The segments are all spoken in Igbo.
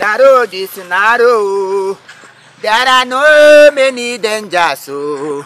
The road is narrow. There are no many dangers o.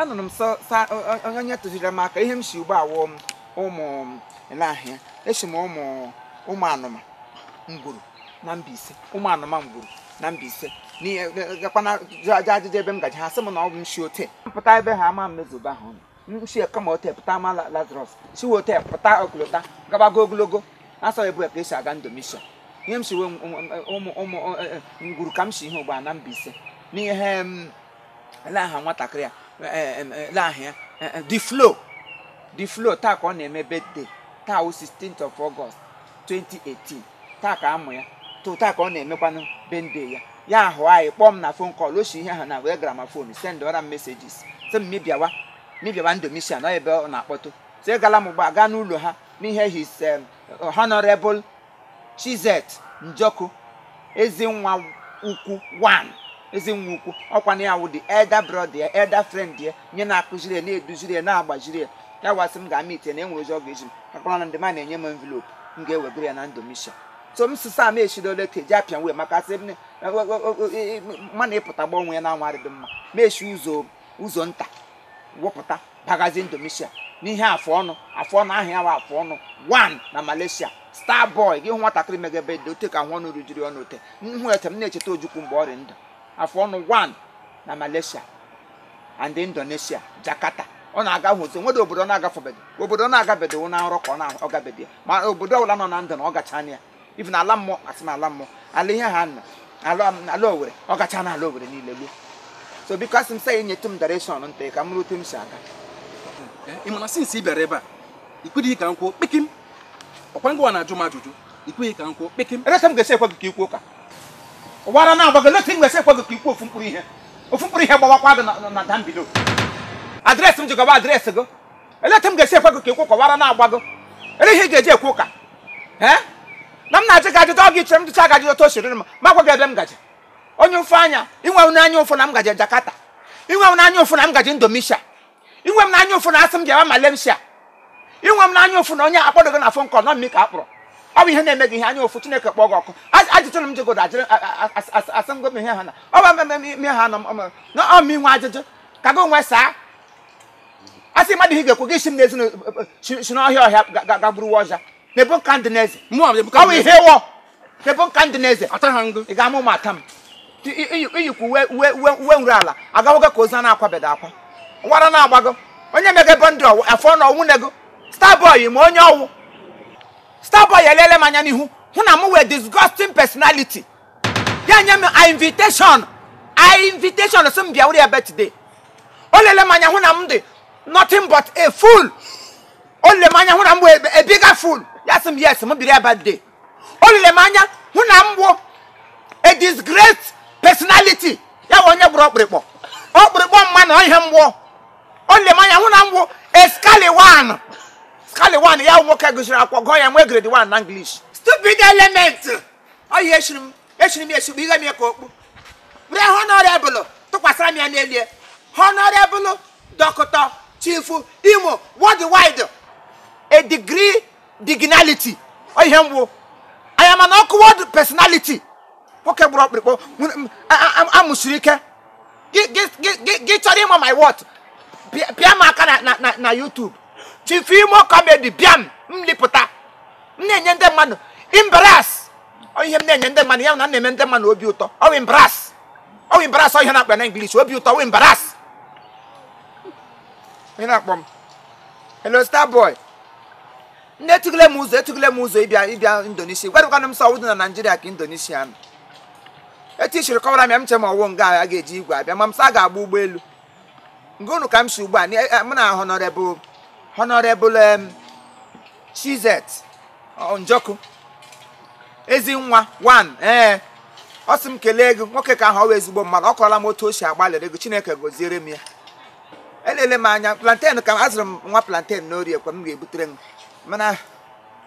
anụrụ m sọ sa onye onye tụziri m aka ihe m si ugbu a wụ m ụmụ n'ahịa esi m Ụmụ Ụmụanụma Nguru na Mbaise Ụmụanụma Nguru na Mbaise n'ihe gakwana jụ ajụ ajụjụ ebe m gaji ha sị m na ọ bụ m si ote mpụta ebe ha ama m mezuba ahụ si kama ote pụta ma La- Lazarus si wee ote pụta ọkụlụta gabago ogologo asọ ebu ka esi aga Indonesia ihe m si wee ụmụ ụmụ eh, eh, Nguru ka m si ihe ugbu a na Mbaise n'ihe em, ele aha nwatakịrị a eh, em, eh, ele aha ya eh, eh, the flow the flow taa ka ọ na-eme birthday taa wụ 16th of August 2018 taa ka amụ ya too taa ka ọ na-emekwanụ birthday ya ya ahụ anyị kpọọ m na phone call o si ihe ha nwe gramophone sendụra m messages sị m mị bịawa mị bịawa Indonesia ọ ebe ọ na-akpọtụ sị gala m gba gaa n'ụlọ ha n'ihe his em, honorable Chizet Njoku Ezinwa Ukwu one Ezinwa Ukwu ọkwa na ya wụ the elder brother ya elder friend ya nye na-akụziri ya na-eduziri ya na-agbaziri ya ya wa sị m gaa meet na enwere ụzọ ọ ga-eji m akpọrọ na ndị ma na-enye m envelope m ga-ewegara ya na Indonesia so m sịsa m eshidole ka eji apịa way maka sị m na- o- o- o- e- e- mma na ịpụta gbanwe ya na anwa adịdị mma m eshi ụzọ ụzọ nta wee pụta bagazi Indonesia n'ihe afọ ọnụ afọ ọnụ aha ya bụ afọ ọnụ one na Malaysia star boy gị hụ nwatakịrị megebe dị ote ka ahọ ọnụ rujiri ọnụ ote nhụ ete m na-echeta Ojukwu mgbe ọ dị ndụ afọ ọnụ one na Malaysia and Indonesia Jakarta ọ na-aga hụzi nwede obodo ọ na-agafebeghị obodo ọ na-agabedo wụ na nrọ ka ọ na- ọ gabedo ya ma obodo ọbụla nọ na ndụ na ọ gacha na ya even ala mmụọ asị na ala mmụọ ala ihe ha nọ ala ala Owere ọ gacha na ala Owere niile luo so because m sị ya nyetụ m direction ntị ka m rute m si aga ị mana since ị bịara ebe a ikweghị ka m kwuo kpekim ọkwa gịwa na-ajụ m ajụjụ ikweghị ka m kwuo kpekim eleta m ga-esi ekwe gị ka ikwu ụka ọ wụ ara na-agba gị eleta m ga-esi ekwe gị ka ikwu ofu mkpụrụ ihe ofu mkpụrụ ihe gbawakwa gị na- na dambido address m ji gọba address gị eleta m ga-esi ekwe gị ka ikwu ụka ọ wụ ara na-agba gị ele ihe ị ga-eji ekwu ụka ee na m na-ajụ gị ajụjụ ọ gị chere m jụchaa gị ajụjụ otu o siri m agwa gị ebe m gaje onye ụfụ anya inwere m anya ụfụ na m gaje Jakarta inwere m anya ụfụ na m gaje Indonesia inwe m n'anya ụfụ na asị m jewa Malaysia inwe m n'anya ụfụ na onye akpọdogo na phone call na ọ m ka a kpọrọ ọ bụ ihe na-eme gị ihe anya ụfụ Chineke kpọọ gị ọkụ ajụjụ na m jegodo ajụrụ asị m gomi ihe ha na ọ bụ ime ha nọ na ọ m nwe ajụjụ ka gị nwe saa asị mmadụ ihe ga-ekwu gị si m n'ezi si n'ọhịa gagburuwa ọja na-ebu nka ndị n'eze ọ bụ ihe ị wụ na-ebu nka ndị n'eze ị ga-ama ụmụ ata m iyikwu uwe nru ala agawogo ka ozu a na-akwabeda akwa wara na-agbago onye mege ebe ndị ọwụ afọ na ọnwụ nego starboy ma onye ọwụ starboy elele m anya n'ihu hụ na m wụ a disgusting personality ya nye m invitation sị m bịa were ebe today o lele m anya hụ na m dị nothing but a fool o lele m anya hụ na m wụ a bigger fool ya sị m yes m biri ebe today o lele m anya hụ na m wụ a disgraced personality ya wụ onye gburu ọkpụrịkpọ ọkpụrịkpọ mmadụ ọ ihe m wụ o lele m anya hụ na m wụ a scallywag ya nwoke gụsiri akwụkwọ gụọ ya nwee grade 1 na English stupid element ọ ihe echiri m echigbu ihe m ka okpu were honorable tụkwasịra m ya n'elie honorable Doctor Chief Imo worldwide a degree dignality ọ ihe m wụ I am an awkward personality nwoke gburu ọkpụrịkpọ amụsiri ike gị chọrọ ịma my worth pịa m aka na YouTube Chief Imo Comedy bịam m lipụta m na-enye ndị mmadụ embarrass ọ ihe m na-enye ndị mmadụ ya na m na-eme ndị mmadụ obi ụtọ ọwụ embarrass ọwụ embarrass ọ ihe a na-akpọ na English obi ụtọ ọwụ embarrass ị na-akpọ m hello star boy nne etụgile m ụzọ etụgile m ụzọ ịbịa Indonesia gwadịkwana m sị ọwụdị na Nigeria ka Indonesia nọ etu i siri kọwara m ya m che ma ọwụ nga a ga-eji igwe abịa ma m sị ga-agba ụgbọelu nga unu ka m si ugbu a mụ na honorable Chizet Njoku ezi nwa 1 ee ọ sị m kelee gị nwoke ka ahụ ọ wụ ezigbo mmadụ ọ kọrọla m otu o si agbalịrị gị chineke goziere m ya elele m anya plantain ka azụrụ m nwa plantain n'orie kwa m ga-ebutere m mana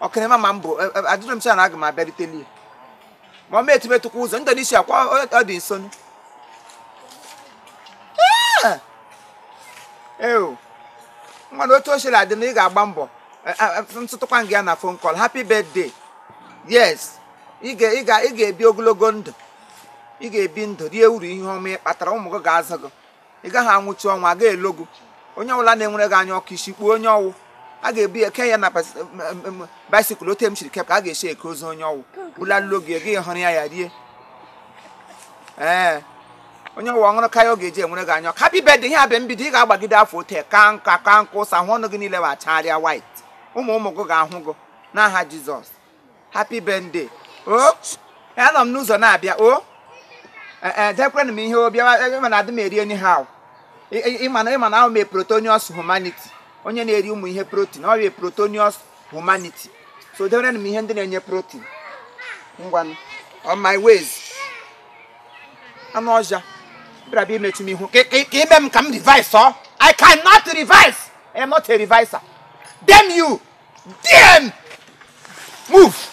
ọkịrịma ma m bụ e- e- adịghị m sure na aga m abịaruteli ma ọ ma etumetụkwa ụzọ Indonesia kwa ọ- ọ dị nso Ah! ewu nwanne otu o siri adị na ị ga-agba mbọ Eh, eh, eh, ntụtụkwa gị ya na phone call happy birthday yes ị ga- ị ga- ị ga-ebi ogologo ndụ ị ga-ebi ndụ rie uru ihe ọma ị kpatara ụmụ gị ga-azụ gị ị gaghị anwụchi ọnwụ a ga-elo gị onye ọbụla na-enwere gị anya ọkụ isi kpuo onye ọ wụ a ga-ebu ya ke ya na bais- m- m- m- bicycle ote m chiri kep ka a ga-esi eke ozu onye ọ wụ bụlalụlo gị gị hụrụ ya ya rie ee onye ọ wụ ọṅụrụ ka ya ọ ga-eji enwere gị anya ọkụ happy birthday ihe a bụ mbido ị ga-agbagide afọ ote ka nka ka nka ụsa hụ ọnụ gị niile wacharịa white ụmụ ụmụ gị ga-ahụ gị n'aha jizọs happy birthday o anọ m n'ụzọ na-abịa o dekwenụ m ihe ọbịa mana adị m eri anyhow ịma na ịma na awụ m protonius humanity onye na-eri ụmụ ihe protein ọ bụ protonius humanity so dewerenụ m ihe ndị na-enye protein ngwanụ on my ways anụ ọhịa bịara bịa imechi m ihu ka ka- ka ime m ka m reverse o i cannot reverse i am not a reverser damn you Damn! Move!